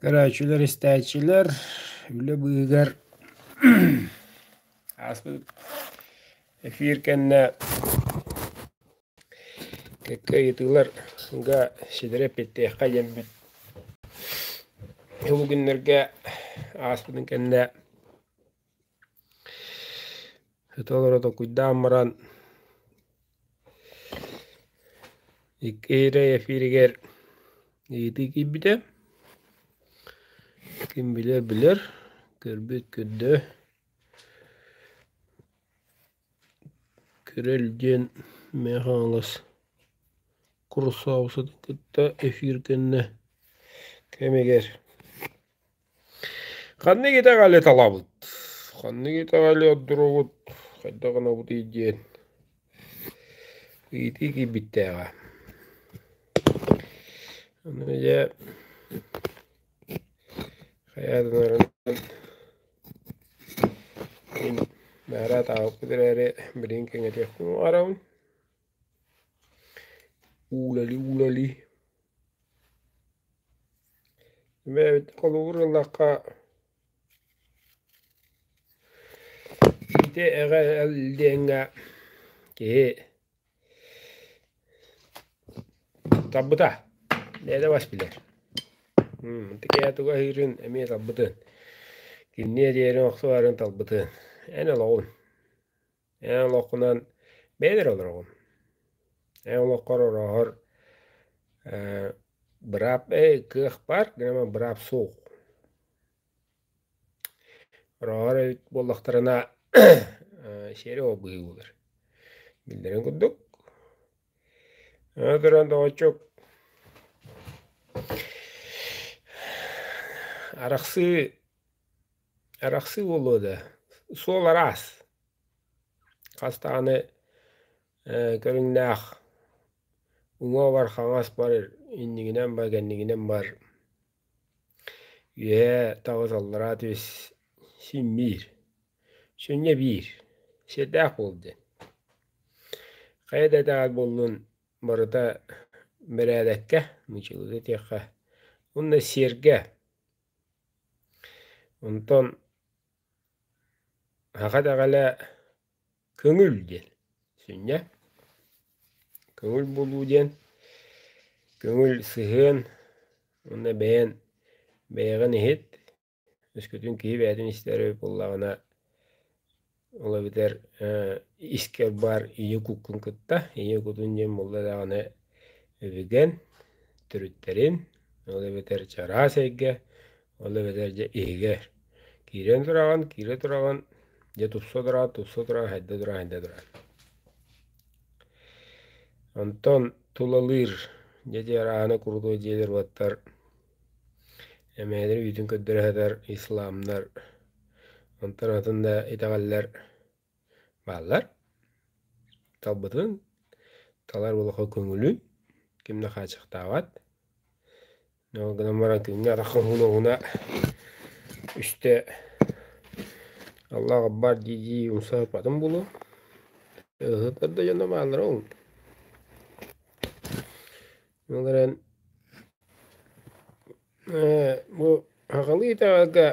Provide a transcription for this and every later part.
Көрөөччүлэр, истээччилэр үлэ быыһыгар ааспыт эфир кэннэ кэккэ ыйытыыларга ситири эппиэттэһиэххэ диэммин бу күннэргэ ааспытын кэннэ Ити олоро токуйдаан баран иккиэрэй эфиригэр ыйытыы киирбитэ. Ким билэр билэр, көрбүт көрдө. Көрөл диэн Миэхэ хаҥалас Курусаабысатын кытта эфир кэннэ кэмигэр Ханнык итэҕэли талабыт? Ханнык итэҕэли ордуругут, хайдах гынабытый диэн ыйытыы киирбиттээҕэ. Аны дьэ хайа гынарынан мин баара атаабыккыт эрээри билигин кэҥэтиэхпин баҕарабын. Уулали-уулали Эбээбит холугур ыллахха ити эҕэ-эл диэҥҥэ киһи тарбыта бэйэтэ бас билэр итикээ тугу аһыырын эмиэ тарбытын кинини эрийэрин охсубатын талбытын эн олоҕун Эн олоххунан бэйэн эрэ олороҕун. Эн олоххор орооһор ээ быраап эй кыах баар гынан быраап суох. Орооһор эбит буоллахтарына сиэри ол быһыы буолар. Биллэрин курдук аны туран доҕоччук арахсыы Арахсыы буолуо да, суол араас. Хас даҕаны э, көрүҥнээх уҥуоҕар хаҥас бар, иннигинэн бар, кэннигинэн бар. Үөһэ таҕыс аллараа түс син биир. Сүнньэ биир. Сиэрдээх буол диэн. Хайа да этэҕэр буоллун барыта бэрээдэккэ, мычылыта диэххэ. Онно сиэргэ Онтон аҕа даҕалэ көҥүл диэн сүнньэ. Көҥүл булуу диэн көҥүл сыһыан уонна бэйэн бэйэҕин иһит, өскөтүн киһи бэйэтин истэр буоллаҕына Ол эбэтэр искэр баар ийэ куккун кытта ийэ кутун диэн буолла даҕаны үбүгэн төрүттэрин, ол эбэтэр чараас эйгэ, ол эбэтэр дьэ иһигэр. Киирэн тураҕын, киирэ тураҕын, дьэ тупса тураҕын, тупса тураҕын, хайда тураҕын, хайда тураҕын. Онтон тулалыыр, дьэ дьиэр ааһына курутуой дьиэлэр баттар Эмээлэр үүтүн көрдөрөһөтөр исламнар онтон атын да итэҕэллэр бааллар. Талбытын талар улахан көҥүлүн ким да хааччахтаабат. Ол гынан баран кинини атахха уһуна-уһуна үстэ Аллах Акбар дии-дии умса сыппатын буолуо. Ыһытар да дьоно бааллар ол. Олорон бу хахалыы итаҕалга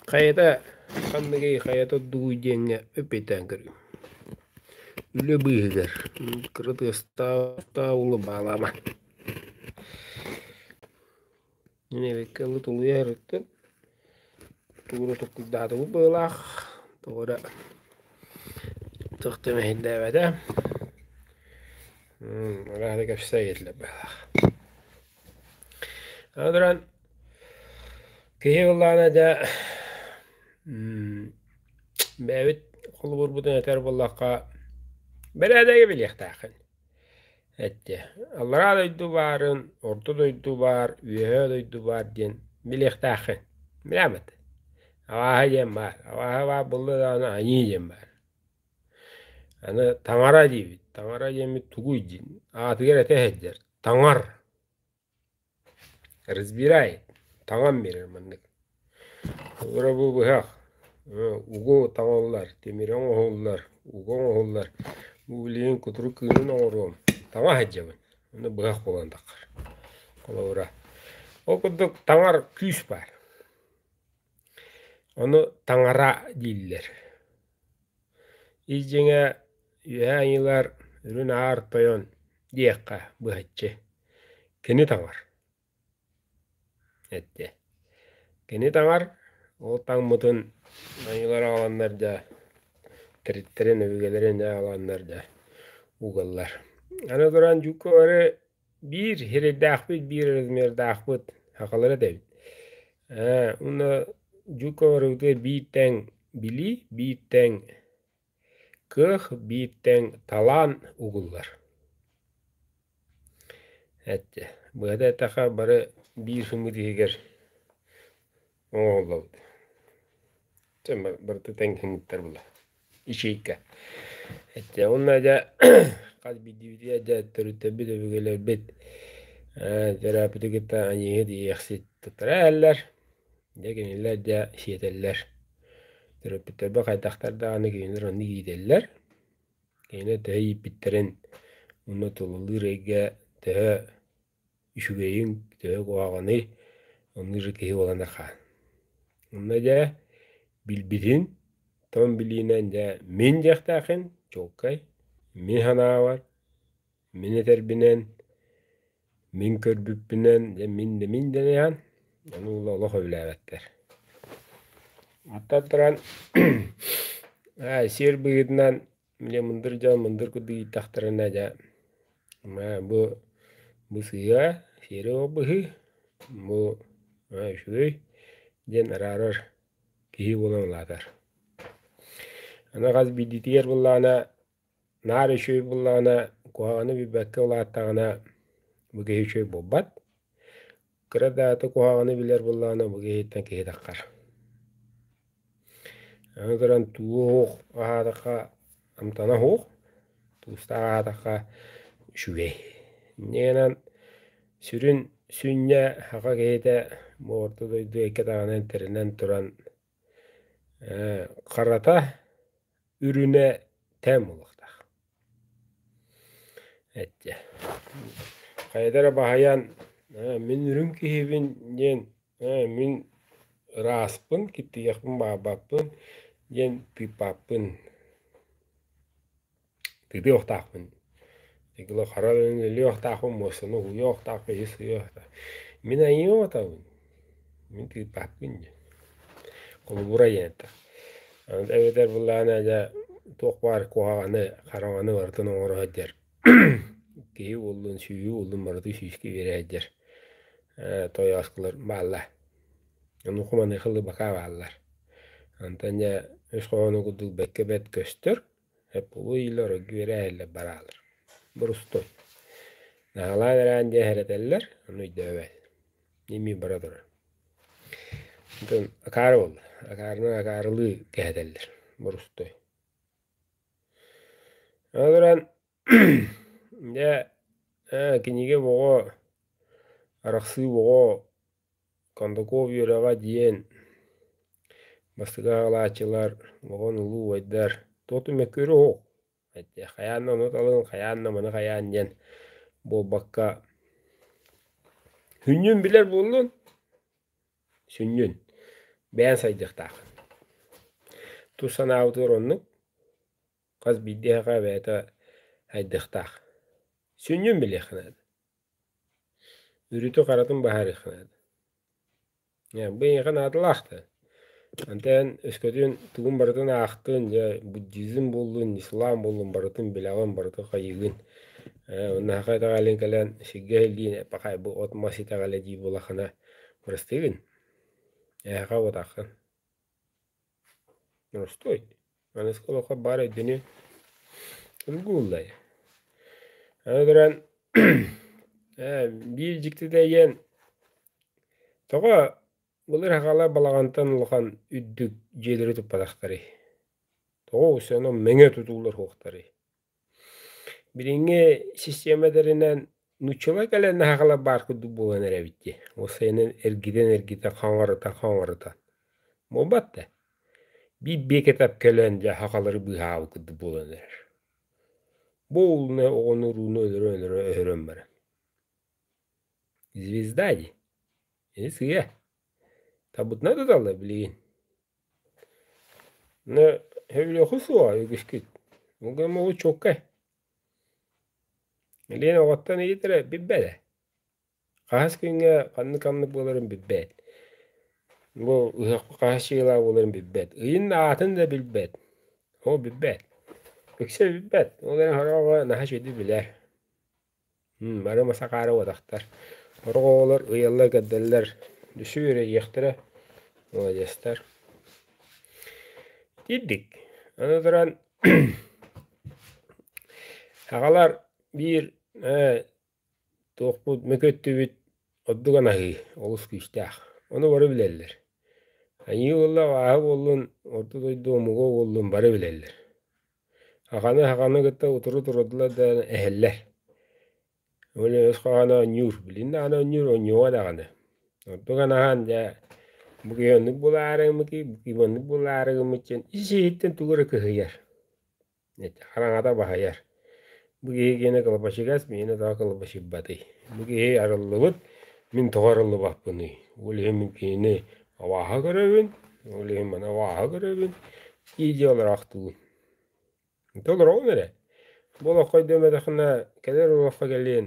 хайата ханныгый хайа турдугуй диэҥҥэ эппиэттээн көрүҥ. Үлэ быыһыгар кыра тыастаах улу баалаама. Нэбиэккэ ылы тулуйа эриттин, тууну туккуйдаатыбыт быһыылаах, тоҕо эрэ төхтө мэһэйдээбэтэ. Араара кэпсээ иһиллэр быһыылаах. Аны туран киһи ыллаана дьэ бэйэбит холобурбутун этэр буоллахха, бэрээдэги билиэхтээххин. эттэ аллараа дойду баарын орто дойду баар үөһээ дойду баар диэн билиэхтээххин билээмэт алааһа диэн баар алааһа баар булла даҕаны аньыы диэн баар аны таҥара диэбит таҥара диэммит тугуй диэн аатыгар этэ сылдьар таҥар Разбирай, таҥан биэрэр маннык: Оҕолоро бу быһах, угу таҥаллар, тимири оҥоһуллар, угу оҥоһуллар, бу билигин кутурук кыылын оҥоруом, таҥа сылдьабын, ону быһах буолан тахтар. Холобура, ол курдук таҥар күүс баар, ону таҥара дииллэр. Ис дьиҥэ Үөһээ Айыылар Үрүн Аар Тойон диэххэ быһаччы кини таҥар эттэ. Кини таҥар ол таҥмытын Айыылар аҕаланнар да териттэрин өбүгэлэрин аҕаланнар да угаллар. Аны туран дьукку бары Биир сирэйдэахпыт, биир размердаахпыт, сахалар этэбит. Ээ, уонна дьука барыбытыгар биир тэҥ били, биир тэҥ кых, биир тэҥ талаан угуллар. Эчи, быһата эттэхэ бары биир сымыыт иһигэр Ооллобут. Чыма бартытен киһиттэр була. Ичейка. Эттэ онна дьа хас биддибитиэ дьа төрүттэбит өбүгэлэрбит терапевты кытта аньыыһы диэхсит туттара эһэллэр. Дьэ кинилэр дьа сиэтэллэр. Төрөппүттэрбэ хайдахтар даҕаны кинилэр онну иитэллэр. Кинилэр төһө ииппиттэрин, уну тулулуур эйгэ төһө үчүгэйиҥ төһө куһаҕаный оннук же киһи буолан аха онно дьэ билбитин тоҥ билиинэн дьэ мин дьиэхтээхин чуолкай мин санаабар мин этэрбинэн мин көрбүппүнэн дьэ мин да мин дэни иһэн ону уула олох өбүлээбэттэр оттон туран ээ сиэр быһыытынан Бля, мындыр дьон мындыр курдук ииттэхтэринэ дьэ бу бу сыыа, сиэри ол быһыы, бу үчүгэй диэн араарар киһи буолан улаатар. Аны хас биирдиитигэр буоллаҕына наар үчүгэй буоллаҕына куһаҕаны билбэккэ улааттаҕына бу киһи үчүгэй буолбат. Кыра дааты куһаҕаны билэр буоллаҕына бу киһиттэн киһитэххэр. Аны туран туох аһаатахха амтана оһуох, туустаах аһаатахха үчүгэй. Иннинэн сүрүн сүнньэ саха киһитэ бу орто дойду икки даҕаны интэринэн туран Харата үрүнэ тээн буолуохтаах. Эттиэ хайата эрэ баһыйаан мин үрүҥ киһибин диэн мин ырааспын киттигэхпин баабаппын диэн тыыппаппын тыытыахтаахпын итигилэ хара өлүөхтаахпын муостаны уһуйуохтаахпын иһи сыйыахтаах мин айыаҕатабын мин тыыппаппын дии холобура ийээнтэ эбэтэр былаана дьэ туох баар куһаҕаны хараҥаны барытын оҥоро сылдьар киһи уоллун сүүйүү уоллун барыта сүүскэ үөрэ сылдьар тойооскулар бааллар онуоха маныаха лыбака бааллар онтон дьэ өс хоһоону курдук бэккэ бэт көстөр Эппулуу иилэр оргуйара иһэллэр бараалар. Бурустуй. Наһалаан эрээн дьэ эһэрэтэллэр, ону өйдөөбөт. Нимии бара турар. Атын акаары буолла. Акаарынан акаарылыы кэһэтэллэр. Бурустуй. Аны туран дьэ кинигэ боҕо арахсыы боҕо Кондаков үөрэҕэ диэн бастакы аҕалааччылар оҕон улуу убайдар туохту мөккүөрэ уһук этэ хайаан да ону талыҥ хайаан да маны хайаан диэн буолбакка сүнньүн билэр буоллун сүнньүн бэйэн сайдыахтаах тус санаабытыгар оннук хас биирдиэхэ бэйэтэ сайдыахтаах сүнньүн билиэххэ наада Үрүтү-харатын баһаарыахха наада. Э, бу эйиэхэ наадалаах да. Антэн өскөтүн тугун барытын аахтын, дьэ буддизм буоллун, ислам буоллун, барытын билэҕин, барытын хайыгын. Э, оннооха итэҕэлин кэлэн сиргэ иһиллиин эппэхай бу от-мас итэҕэлэ дии буоллаххына, бырастыыгын. Эһиэхэ уотааххын. Мостой, Манайскай олоххо баар өйдөнүү Ылгууллай. Аны туран ээ биир дьиктитэ диэн тоҕо былыр хахалар балаҕантан улахан үрдүк дьиэлэри туппатахтарый? Тоҕо устана мэҥэ тутуулар суохтарый? Билиҥҥи систиэмэлэринэн нууччалыы кэлэн аһаҕала баар курдук буолан эрэбит дии, уопсайынан эргитэн-эргитэн, хаҥарыта-хаҥарыта. Буолбат да, биир биэкэ тап кэлэн дьэ аһаҕалары быыһаабыт курдук буолан эрэр. Бу ууну оҕону урууну өлөрө-өлөрө өһөрөн баран. Звезда дии, ини сыыйа. Табытна туталла билигин но өбүлүөкү суоҕа үгүскүт уга молучуоккай Лена оҕоттон иитэрэ билбэтэ хаһыс күҥҥэ ханнык ханнык буоларын билбэт бу ыһыахха хаһыс дьиэлээх буоларын билбэт ыйын аатын да билбэт ол билбэт ыкса билбэт ол эрэн сороҕо наһаа үчүгэйдик билэр бары масакаара уотахтар сорох оҕолор ыйалла кэрдэллэр düşсе үөрэйиэхтэрэ молодецтар ирдик аны туран сахалар биир ээ туохпут мөкүттүбүт ордук анаһыы олус күүстээх ону бары билэллэр айыы буолла абааһы буоллун орто дойду омугу буоллун бары билэллэр Аҕаны аҕаны кытта утуру турдулар да эһэллэр. Уонна өс хаана оонньуур, билиннэ аҕаны оонньуур оонньуоҕа даҕаны. Ордук аны аһаан дьэ бу киһи оннук булаарыгыммыт киһи оннук булаарыгыммыт диэн ис иһиттэн тугу эрэ кыһыйар. Хараҥата баһыйар. Бу киһи киэнэ кылабачыгас, миэнэ тоҕо кылабачыйбатый? Бу киһи арыллыбыт, мин тоҕо арыллыбаппыный? Ол иһин мин кинини абааһы көрөбүн, ол иһин маны абааһы көрөбүн, дии дии олороохтуубун. Ити олороҕун эрэ. Бу олоххо өйдөммөтөххүнэ, кэлэр олоххо кэлиэн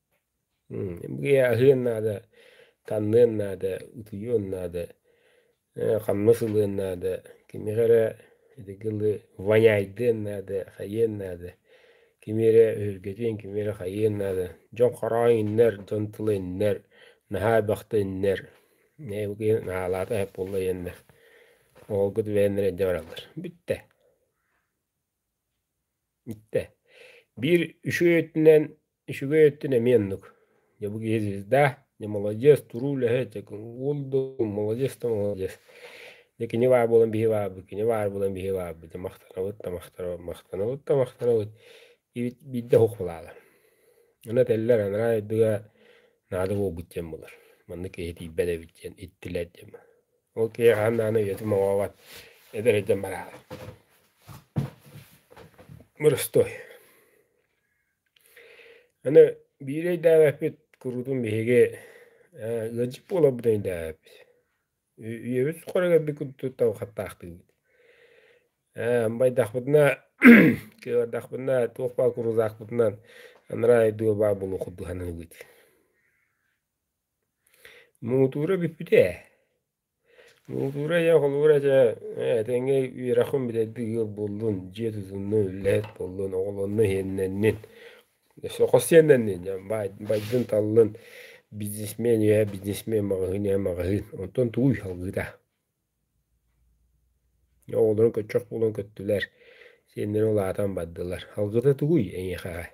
Гия аһыан наада, ханныан наада, утуйуон наада, ханна сылыан наада, кими эрэ ити гылы воняйдыан наада, хайыан наада, кими эрэ өһүргэтиэн, кими эрэ хайыан наада. Дьон хороойуннар, дьон тыла үннэр, наһаа бахта үннэр, наһаалаата буолла диэннэр, оһолго түбэһэннэр илдьэ бараллар. Бүттэ. Итте, биир үчүгэй өттүнэн үчүгэй өттүн эмиэ оннук. Дьэ бу киһи звезда, дьэ маладец, туруу үлэһит, дьэ уол да маладец да маладец. Дьэ кини баар буолан биһи баарбыт, кини баар буолан биһи баарбыт. Дьэ махтанабыт да махтанабыт, махтанабыт да махтанабыт. Биирдэ уһук баалар. Аны этэллэр анараа дойдуга наада буолбут диэн буолар. Маннык киһи тиийбэт эбит диэн иттилэр диэн. Ол киһи хаһан даҕаны үйэтин моҕообот эдэр өйдөн бараары. Мырыстой. Аны биир өйдөөбөппүт куруутун биһиги ыалдьыт буоларбытын өйдөөбөппүт. Үйэбит суохха кэлбит курдук табахаттаахтыыбыт. Байдахпытына кыабардахпытына туох баар куруутаахпытынан анараа дуу баар булуохпут быһанныбыт. Муҥутуура бүппүтэ ээ. Муҥутуура ийэ холобура чэ этэҥҥэ үөрэххин бүтэрдик ыал буоллун, дьиэ тутуннун, үлэһит буоллун, оҕолоннун, иһиннэннин. Соххо сиэннэннин, байдын таллын, бизнесмен үөһэ бизнесмен, маҕаһыын үөһэ маҕаһыын, онтон тугуй салгыыта? Оҕолорун көччөх буолан көттүлэр, сиэннэрин улаатан бардылар, салгыыта тугуй эйиэхэҕэ?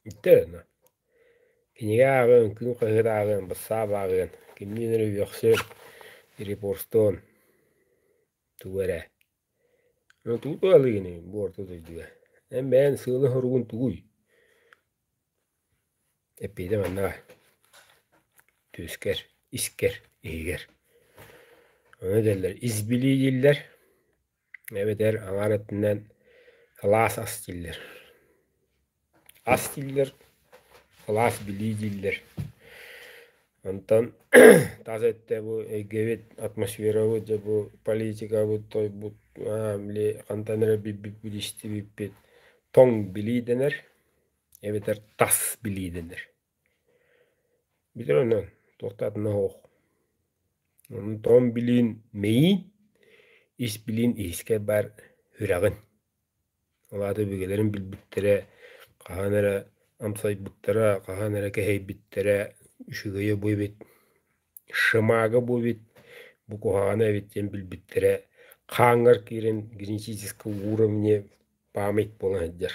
Өттөөнө. Кинигэ ааҕыан, күн хаһыат ааҕыан, бассаап ааҕыан, кимниин эрэ үөхсүөн, репостуон тугу эрэ. Ону тугу туһалыыгыный бу орто дойдуга? Эн бэйэҥ сыала-соругун тугуй? Эппиэтэ манна баар. Түөскэр, искэр, иһигэр. Ону этэллэр ис билии дииллэр. эбэтэр аҥаар өттүнэн кылаас ас дииллэр ас дииллэр кылаас билии дииллэр онтон тас өттө бу эйгэбит атмосферабыт дьэ бу политикабыт тойбут били хантан эрэ билбиппит истибиппит тоҥ билии дэнэр эбэтэр тас билии дэнэр Битэр онон туохтаатына оһох. Онон тоҕон билиин мэйиин, ис билиин иһискэр баар үрэҕин. Ол аата өбүгэлэрин билбиттэрэ, хаһан эрэ амсайбыттара, хаһан эрэ кэһэйбиттэрэ, үчүгэйэ бу эбит, шамага бу эбит, бу куһаҕана эбит диэн билбиттэрэ, хааҥҥар киирэн генетическэй уровне память буола сылдьар.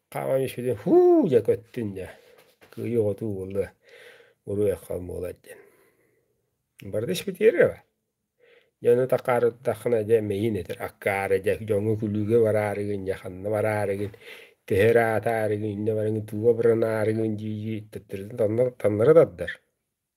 Хааман испитим һуу дьэ көттүн дьэ кыйыы хотуу буолуо буруйахха буолар диэн бары да испитиэрэҕэ дьону такаарыттаххына дьэ мэйин этэр акkaары дьэ дьоҥҥо күлүүгэ бараарыгын дьэ ханна бараарыгын тэһэ эрэ аатаарыгын иннэ барыгын тууга быранаарыгын дии-дии төттөрүтүн таннары таннары тардар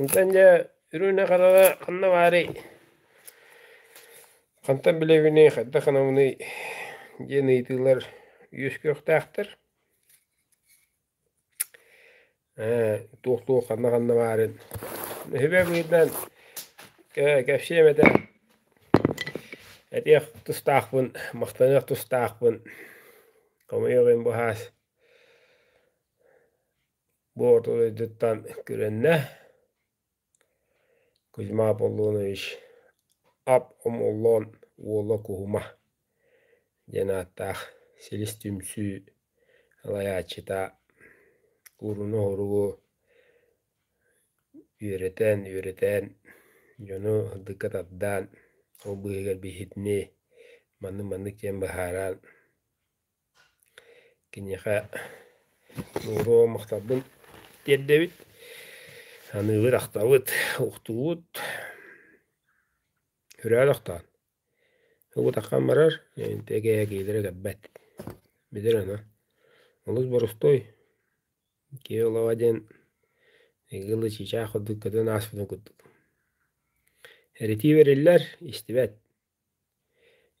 Онтон дьэ үрүөнэ харала ханна баарый? Хантан билэбиний, хайдах гынабыный? диэн ыйытыылар үөскүөхтээхтэр. туох туох ханна ханна баарын Өһүбэ быһыытынан кэпсиэм этэ этиэх тустаахпын, махтаныах тустаахпын, хомойуох иһин бу саас Боотур дойдуттан күрэннэ Кузьма Аполлонович ап омоллоон уола Куһума диэн ааттаах силис түмсүү салайааччыта кууруну-оһуругу үөрэтэн үөрэтэн дьону сырдыкка тардаан ол быыһыгар биһитини маннык маннык диэн быһааран Киниэхэ нууру махталбын тиэрдэбит, аныыбыт ахтабыт, уктубут үрөөн охтоон ылбыт аххан барар эгээкиилэрэ кэлбэт билир аны олус борустуой киһи олоҕо диэн эһиги ылы чыычаах курдук көтөн ааспытын курдук эритии бэриллэр истибэт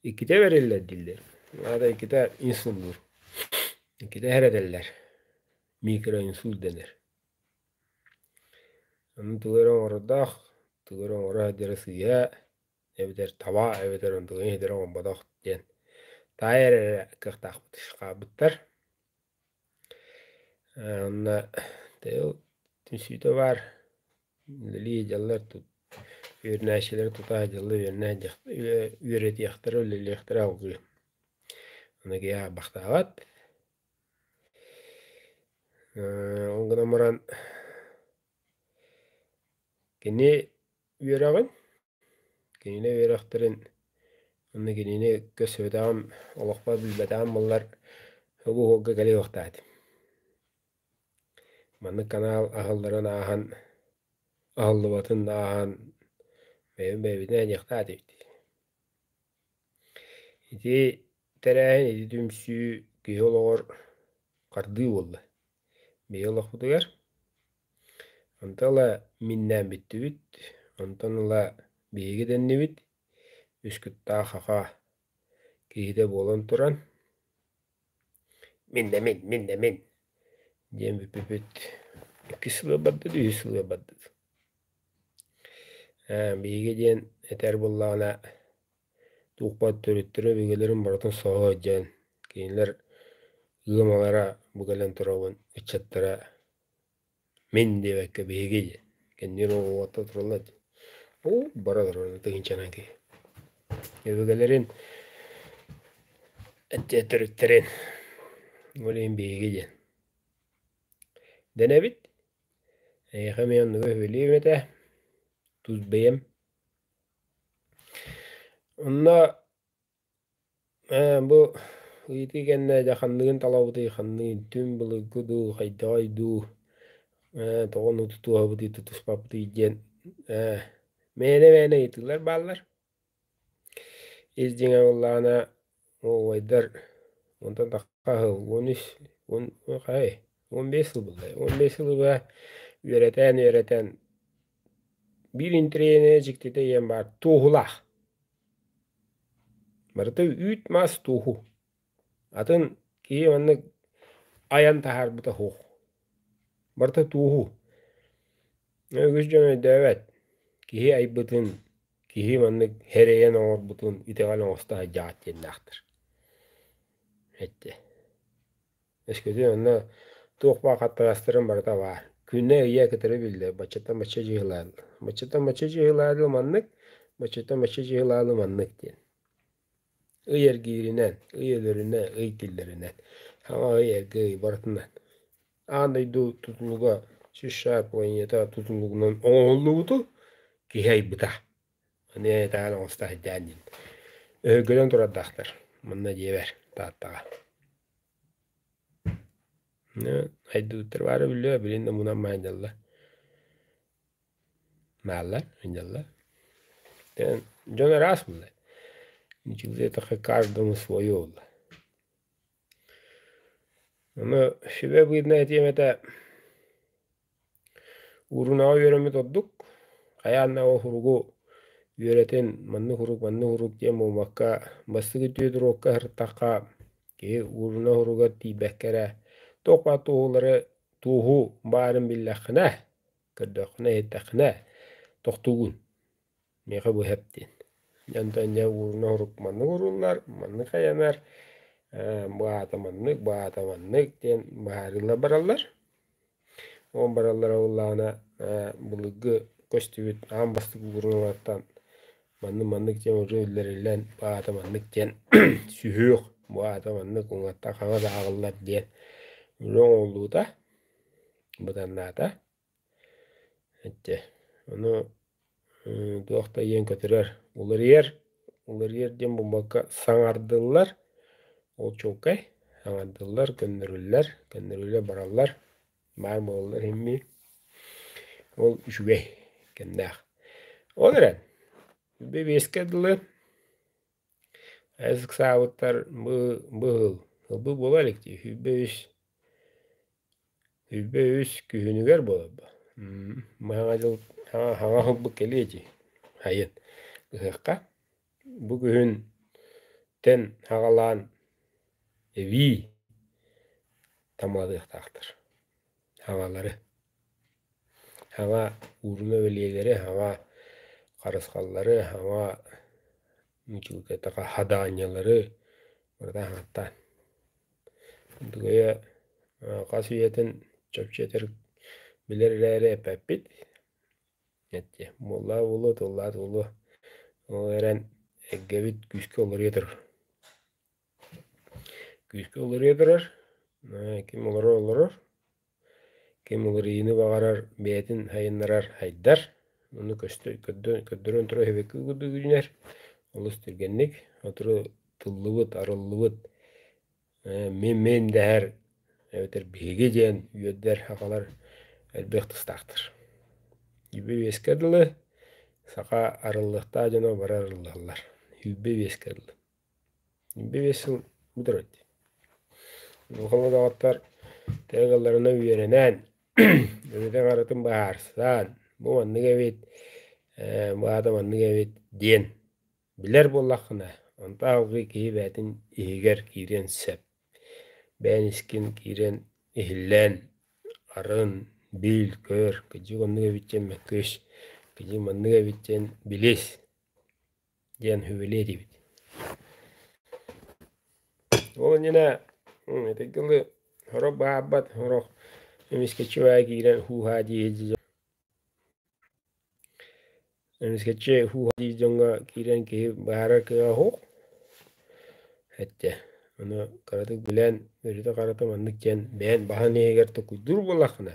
Иккитэ бэриллэр дииллэр, аата иккитэ инсуллуур, иккитэ heredэллэр, микроинсульт дэнэр. Аны тугу эрэ оҥорордоох, тугу эрэ оҥоро сылдьара сыыйа эбэтэр таба эбэтэр онтугун иһитэрэ оҥорботох диэн таайа эрэ кыахтаахпыт хаалбыттар. Онно тыыл түмсүүтэ баар үлэлии дьаллар үөрэнээччилэри тутаах дьаллы үөрэтиэхтэрэ үлэлиэхтэрэ алгыы оноге абахтаабат ол гынан баран кини үөрэҕин Кинини үөрэхтэрин уонна кинини өккө сөбүтэҕим, олохпор билбэтэҕим буоллар угу уһуолга кэлиэхтээт. Маннык канаал аһылларын ааһан, аһыллыбатын да ааһан бэйэбин бэйэбитинэн эниэхтээх этибит. Ити тэрээһин, ити түмсүү киһи олоҕор хардыы буолла. Биһиги олохпутугар Онто ыла миннээн бүттүбүт, онтон ыла биһиги дэннибит, үскүттаах аха киһитэ буолан туран «Миннэмин, миннэмин» диэн бүппүпүт, иккис сылыгар бардыт, үһүс сылыгар бардыт. биһиги диэн этэр буоллаҕына туохпут төрүттэрэ өбүгэлэрин барытын соһо илдьэн, кинилэр ыамалара бу кэлэн турабын ыччаттара Мин диэбэккэ биһиги кэннибин оҕуота туралла дии. Уу бара турара тыһыынчанан киһи. Өбүгэлэрин эттиэ төрүттэрин ол иһин биһиги диэн дэнэбит эйиэхэ эмиэ оннуга үбүлүөм этэ тус бэйэм онно Ээ бу ыйытыы кэннэ дьэ ханныгын талабытый, ханный түҥ былыргы дуу, хайдаҕый дуу, ээ тоҕон уту туоһабытый, тутуспапытый диэн ээ мээнэ мээнэ ыйытыылар бааллар. Ис дьиҥэ буоллаҕына уруубайдар онтон тахха сыл, уон үс, уон хайы уон биэс сыл буоллай, уон биэс сылы быһа үөрэтэн үөрэтэн биир интэриэһинэй дьиктитэ ийэм баар туоһулаах. Барыта үүт-маас туоһу. Атын киһи маннык айан таһаарбыта суох. Барыта туоһу. Үгүс дьон өйдөөбөт. Киһи айбытын, киһи маннык эрэйэн оҥорбутун итэҕэл оҥосто сылдьаҕыт диэннээхтэр. Эттэ Эскиди онно туох баар хаттаҕастарын барыта баар. Күннэ ийэ кытары биллэр. Баччаттан бачча дьыһылаан. Баччаттан бачча дьыһылаалыы маннык, баччаттан бачча дьыһылаалыы маннык диэн. Ый эргииринэн, ый өлөрүнэн, ый тиллэринэн. Саҥа ый эргэ ый барытынан. Аан дойду тутулуга США планета тутулугунан оҥоһуллубуту киһи айбыта. Аны ытаан оҥосто сайдаан диин. Өһүргэнэн турардаахтар. Манна дьиэбэр Тааттаҕа. Айдыбыттар баара биллиэ, билин омунан майдалла. Мааллар, мындалла. Дьон араас буолла. Каждому свое буолла. Аны сүбэ быыннай этиэм этэ урунаҕа үөрэммит ордук хайаан да уһуругу үөрэтин маннык урук маннык урук диэн буолбакка бастакы түөдуруокка сырыттахха киһи ууруна уһуругар тиийбэккэ эрэ туох баар туоһуулары туоһу баарын биллэххинэ көрдөххүнэ иһиттэххинэ тохтуугун Миэхэ быһа эптиин. Дьон тэнньэ уурун оһурук маннык ууруллар, маннык айанар, баһаата маннык, баһаата маннык диэн баһаарыылар бараллар. Ол бараллара буоллаҕына былыргы көстүбүт аан бастакы уурулларыттан маннык маннык диэн уже үллэриллэн баһаата маннык диэн сүһүөх, баһаата маннык уҥаттан хаҥас ааҕыллар диэн үлэ оҥоһуллуута, быданнаата. Эттэ ону туох да ийэҥ көтүрэр уларыйар уларыйар диэн булбакка саҥардыллар ол чуолкай саҥардыллар көннөрүллэр көннөрүллэр бараллар баар буолаллар иһин ол үчүгэй кэмнээх ол эрэн бэбиэскэ дылы Эр ыксаабыттар бу быһыл сылбыт буолуо иликтии сүүрбэ үс сүүрбэ үс күһүнүгэр буоларба Саҥа дьыл саҥа саҥа сылбыт кэлиэ дии сайын кыһыахха бу күһүнтэн саҕалаан эбии тамалыахтаахтар Һавалары, һава ууруна бэлиэлэри, һава харысхаллары, һава хадаанньалары барыта аһааттаан. хас үйэтин чопчу этэр билэр эрээри эппэппит эттиэ буоллаҕа буолуо тыллаах да буолуо ол эрэн эйгэбит күүскэ уларыйа турар Күүскэ уларыйа турар, ким олорор олорор, ким уларыйыыны баҕарар бэйэтин сайыннарар сайдар, ону көрдөрөн турар эбэккэ курдук үүнэр, олус түргэнник, сотору тыллыбыт, арыллыбыт мим-мим дэһэр эбэтэр биһиги диэн үөрдэр сахалар элбэх тустаахтар. Үбү-үөскэ дылы саха арыллыахтаах дьоно бары арыллаллар. Үүрбэ-үөскэ дылы. Биир сыл бүтэрбит. Улахан удаҕаттар тыагаларына үөрэнэн, үлэтин-аҕатын быһаарсан, бу маннык эбит, баата маннык эбит диэн билэр буоллаххына, онто аһылҕыы киһи бэйэтин иһигэр киириэн сөп. Бэйэн искин киирэн иһиллэн, арын, бил, көр, кыдьык оннук эбит диэн мөккүс, кыдьык маннык эбит диэн билис. диэн үбүлүөй этибит. Ол иннинэ итинки дылы сорох баһаарбат сорох эмискэччи киирэн хууһаа дии эмискэччи хууһаа дии дьоҥҥо киирэн киһи баһаарар кыаҕа суох эттэ. Ону кыратык билэн, өрүтэ-харата маннык диэн бэйэн баһан иһигэр токуйдуур буоллаххына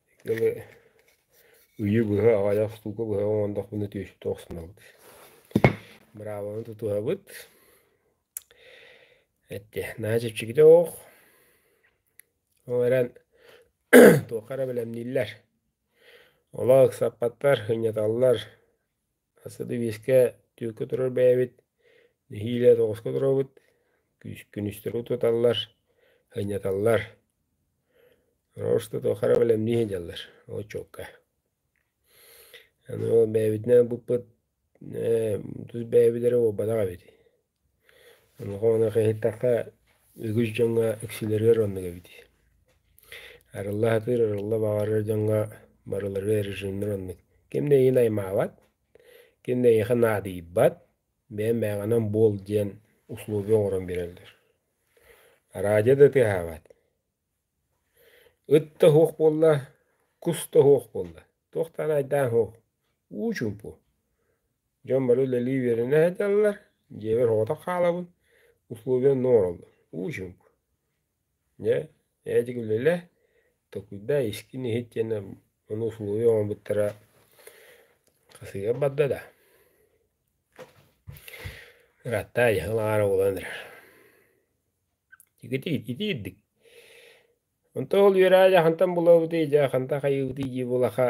Ыйы быһа аҕайах штука быһа оҥоруохпуна түөстүү охсунабыт. Быраабаны тутуһабыт. Эттэ наһаа чэпчэкитэ оһох. Ол эрэн туохха эрэ бэлэмнииллэр. Олох ыксаппаттар, сынньаталлар. Сарсыарда биэскэ түөккэ турар бэйэбит, нэһиилэ тоҕуска туробут, күс күнүстэрэ утуталлар, анньыталлар. Орошто хара бэлэмнии сылдьаллар очуокка. Аны ол бэйэбитинэн буппут тус бэйэбит эрэ буолбатах эбит Олоҕоҕун эхэйитэххэ үгүс дьоҥҥо иксилэригэр оннук эбит арылла сатыыр арылла баҕарар дьоҥҥо барыларыгар режимнэр оннук ким да эйиэхэ наймаабат ким да эйиэхэ наадыйбат бэйэм бэйэҕинэн буол диэн условия оҥорон биэрэллэр араадьа да тыаһаабат Ыт да оһуох буолла, кус да оһуох буолла, туохтаан айдаан оһуох, уу чуумпу. Дьон бары үлэлии үөрэнэ сыталлар, дьиэбэр соҕотох хаалабын, условия онно оҥороллор, уу чуумпу. Дьэ, ээдьик үлэлэ, толкуйдаа, искин иһит диэни ону условия оҥорбуттара хасыйан барда да, ыраатта айаһын аҕара буолан эрэр Ититии, ититии ирдик. Онто ол үөраа дьахантан булабытый, дьаханта хайыбытый дии булаха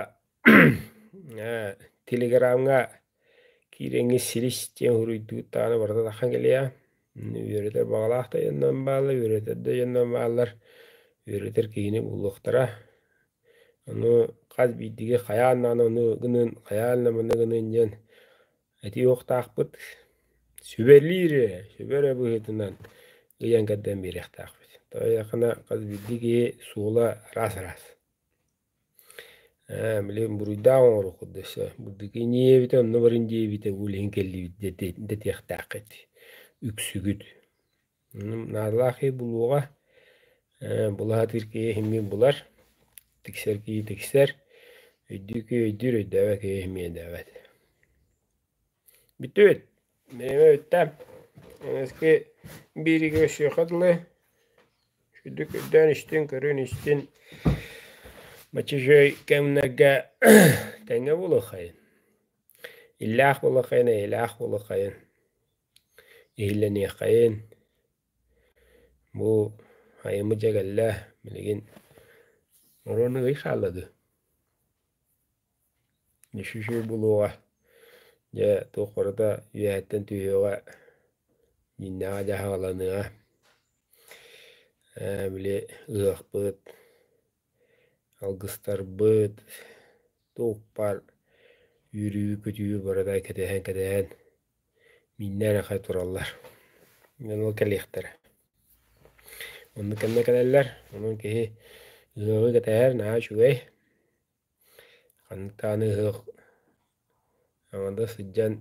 ээ телеграмҥа киирэҥҥэ силис диэн уруйдуут даҕаны барыта таххан кэлиэ. Үөрэтэр баҕалаах да дьоннор бааллар, үөрэтэр да дьоннор бааллар, үөрэтэр киһини булуохтара. Ону хас биирдиги хайаан даҕаны ону гыныан, хайаан да маны гыныан диэн Этиһиохтаахпыт сүбэлиир ээ, сүбэ эрэ быһыытынан ыйан кэрдэн биэриэхтээхпит. Айаххына хас биирдии киһи суола араас-араас. Ээ билигин буруйдаах оҥоруоххут да сөп. Буддуки иньиэбитэ онно барыын диэбитэ бу билигин кэллибит дэтиэхтээххит. Үксүгүт наадалаах киһи булуоҕа, булаһатыыр киһи иһиммин булар, тиксэр киһи тиксэр, өйдүүр киһи өйдүүр, өйдөөбөт киһи иһиммин өйдөөбөт. Бүтүн, бэйэм өттөм эҥэски бииригэ өссүөхэ дылы, үрдүк өйдөөн истин, көрөн истин, мачечой кэмнэргэ тэҥҥэ буолуоххайын, иллээх буолуоххайын, эйэлээх буолуоххайын. иһиллэниэххэйин, бу айымы дьэ кэллэ билигин оруона ый хааллады үсүсүү булуоҕа дьэ туох барыта үөһэттэн түһүөҕэ дьиҥнээҕэ дьаһаҕаланыаҕа ээ били ыһыахпыт алгыстарбыт туохпар үөрүү көтүү барыта кэтэһэн кэтэһэн Мииннэр эрэ тураллар, эн ол кэлиэхтэрэ. Онно кэннэ кэлэллэр, онон киһи ыһыаҕы кэтэһэр наһаа үчүгэй. Ханнык даҕаны ыһыах аҥардас сылдьан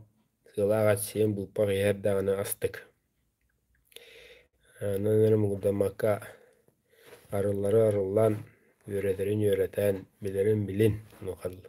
сыалаах эчсиэн булпах иһэр даҕаны астык. Онон эн муҥурдаммакка арыллары арыллан, үөрэтэрин үөрэтэн, билэрин билин, онуоха дылы.